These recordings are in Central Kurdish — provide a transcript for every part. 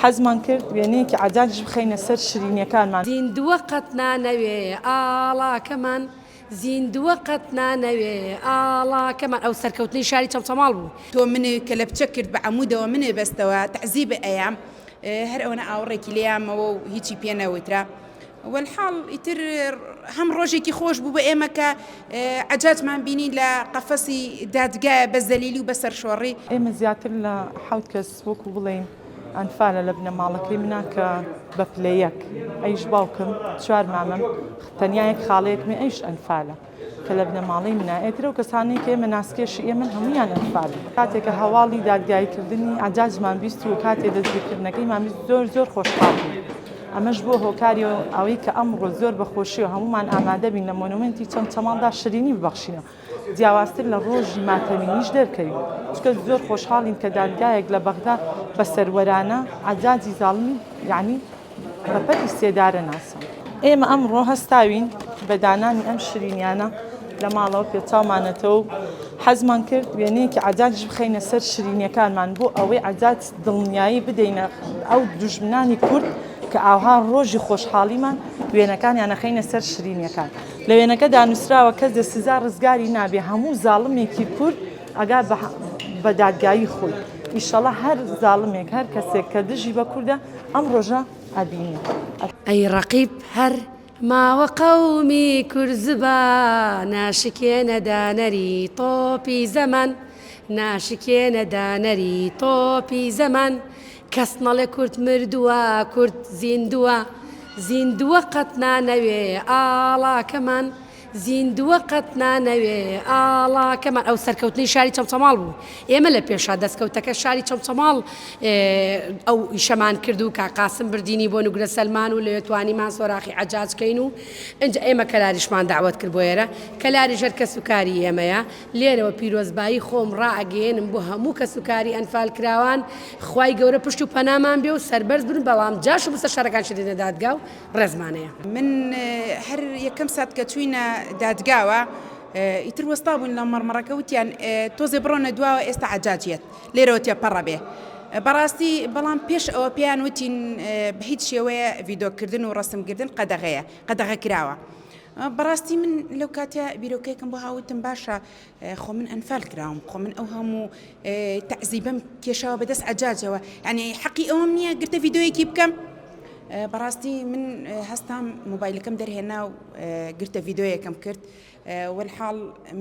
حەزمان کرد وێنەیەکی عەدالیش بخەینە سەر شیرینیەکانمان. زیندووە قەت نانەوێ ئاڵاکەمان زیندووە قەت نانەوێ ئاڵاکەمان ئەو سەرکەوتنەی شاری چەمچەماڵ بوو. تۆ منت کەلەپچە کرد بە عەموودەوە منێ بەستەوە تەعزیبت ئەیام هەر ئەوەنە ئاوڕێکی لێیامەوە و هیچی پێ نەوترا وەلحاڵ ئیتر هەم ڕۆژێکی خۆش بوو بە ئێمە کە عەجاجمان بینی لە قەفەسی دادگایە بە زەلیلی و بە سەرشۆڕی. ئێمە زیاتر لە حەوت کەس وەکو بڵێین ئەنفالە لە بنەماڵەکەی منا کە بە پلە یەک ئەیش باوکم چوار مامم تەنیا یەک خاڵەیەک من ئەیش ئەنفالە کە لە بنەماڵەی منا ئێترە و کەسانی کە ئێمە ناسکێشی ئێمە هەمویان ئەنفالن کاتێکە هەواڵی دادگاییکردنی عەجاجمان بیست و کاتێ دەستگیرکردنەکەیمان بیست زۆر زۆر خۆشحاڵ بووین ئەمەش بووە هۆکاری ئەوەی کە ئەمڕۆ زۆر بە خۆشی و هەموومان ئامادەبین لە مۆنومێنتی چەمچەماڵدا شیرینی ببەخشینەوە جیاوازتر لە ڕۆژی ماتەمینیش دەرکەوین، چونکە زۆر خۆشحاڵین کە دادگایەک لە بەغدا بە سەروەرانە، عەجاجی زاڵمی یەعنی بە پەتی سێدارە ناساند. ئێمە ئەمڕۆ هەستاوین بە دانانی ئەم شرینیانە لە ماڵەوە پێچاومانەتەوە و حەزمان کرد وێنەیەکی عەجاجیش بخەینە سەر شرینیەکانمان بۆ ئەوەی عەجاج دڵنیایی بدەینە ئەو دوژمنانی کورد کە ئاوها ڕۆژی خۆشحاڵیمان وێنەکانیان ئەخەینە سەر شرینیەکان. لە وێنەکەدا نوسراوە کەس لە سزا ڕزگاری نابێ هەموو زاڵمێکی کورد ئەگا بە دادگایی خۆی ئیشەڵا هەر زاڵمێک هەر کەسێک کە دژی بە کوردە ئەم ڕۆژە ئەبینی. ئەی ڕەقیب هەر ماوە قەومی کورد زبان ناشکێنە دانەری تۆپی زەمان ناشکێنە دانەری تۆپی زەمان کەس نەڵێ کورد مردووە کورد زیندووە زیندووە قەت نانەوێ ئاڵاکەمان زیندووە قەت نانەوێ ئاڵاکەمان ئەو سەرکەوتنی شاری چەمچەماڵ بوو ئێمە لە پێشا دەستکەوتەکە شاری چەمچەماڵ ئەو ئیشەمان کرد و کاقاسم بردینی بۆ نوگرە سەلمان و لەوێ توانیمان سۆراخی عجاجکەین و ئەنج ئێمە کەلاریشمان داوت کرد بۆ ئێرە کەلاری ژەر کەس و کاری ئێمەیە لێرەوە پیرۆزبایی خۆم ڕائەگەیەنم بۆ هەموو کەس و کاری ئەنفالکراوان، خوای گەورە پشت و پەنامان بێ و سەربەرز بن، بەڵام جاش و مستەشارەکان چی دەدەنە دادگا و ڕێزمانەیە. من هەر یەکەم سات کە چووینە دادگاوە ئیتر وەستا بووین لە مەڕمەڕەکە وتیان تۆزێ بڕۆنە دواوە ئێستا عەجاج یەت لێرەوە تێپەڕە بێ بەڕاستی بەڵام پێش ئەوە پێیان وتین بە هیچ شێوەیە ڤیدۆکردن و ڕەسمگردن قەدەغەیە قەدەغە کراوە بەڕاستی من لەو کاتە بیرۆکەیەکم بۆ هاوتم باشە خۆ من ئەنفال کراوم خۆ من ئەو هەموو تەعزیبم کێشاوە بەدەست عجاجەوە ئەنی حەقی ئەوم نییە گرتە یددیوەیەکی بکەم بەڕاستی من هەستام موبایلەکەم دەرهێنا و گرتە یددیوەکەم کرد والحاڵ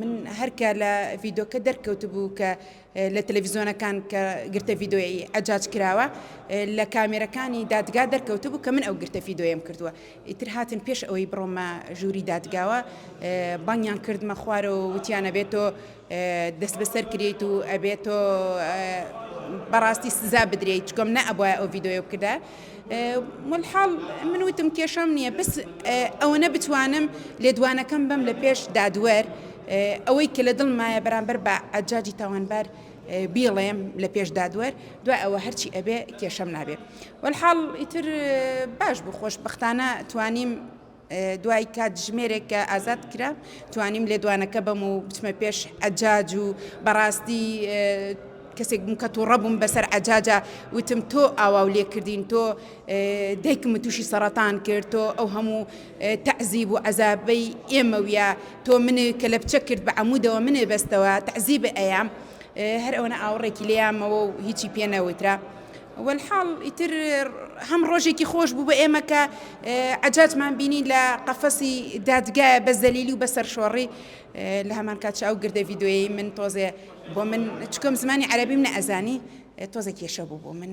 من هەرکە لە یددیوکە دەرکەوت بوو کە لە تەلەفیزیۆنەکان کە گرتە ڤیدۆیەیی عەجاج کراوە لە کامێرەکانی دادگا دەرکەوتبوو کە من ئەو گرتە ڤیدۆیەم کردووە ئیتر هاتن پێش ئەوەی بڕۆمە ژووری دادگاوە بانگیان کردمە خوارەوە و وتیانە بێت تۆ دەست بەسەر کریت و ئەبێت تۆ بەڕاستی سزا بدرێت چکۆم نەبواە ئەو ڤیدۆیە بکردە وەلحاڵ من وتم کێشەم نییە بەس ئەوەنە بتوانم لێدوانەکەم بەم لە پێش دادوەر ئەوەی کە لە دڵمایە بەرامبەر بە ئەجاجی تاوانبار بیڵێم لە پێش دادوەر دوای ئەوە هەرچی ئەبێ کێشەم نابێ وەلحاڵ ئیتر باش بوو خۆشببختانە توانیم دوای کاتژمێرێک کە ئازاد کرا توانیم لێدوانەکە بەم و بچمە پێش ئەجاج و بەڕاستی کەسێک بووم کە تووڕە بووم بەسەر عجاجە وتم تۆ ئاوا و لێکردین تۆ دایکم تووشی سەرەتان کرد تۆ ئەو هەموو تەعزیب و عەزابەی ئێمە وە تۆ منێ کە لە بچە کرد بە عمودەوە منێ بەستەوە تەعزیب ئەیام هەر ئەوەنە ئاوڕێکی لێیامەوە و هیچی پێ نەوترا. وەلحاڵ ئیتر هەم ڕۆژێکی خۆش بوو بە ئێمە کە عەجاجمان بینی لە قەفەسی دادگایە بە زەلیلی و بە سەرشۆڕی لە هەمان کاتش ئەو گردە ڤیدۆیەی من تۆزێ بۆ من چکم زمانی عەرەبیم نە ئەزانی تۆزە کێشە بوو بۆ من.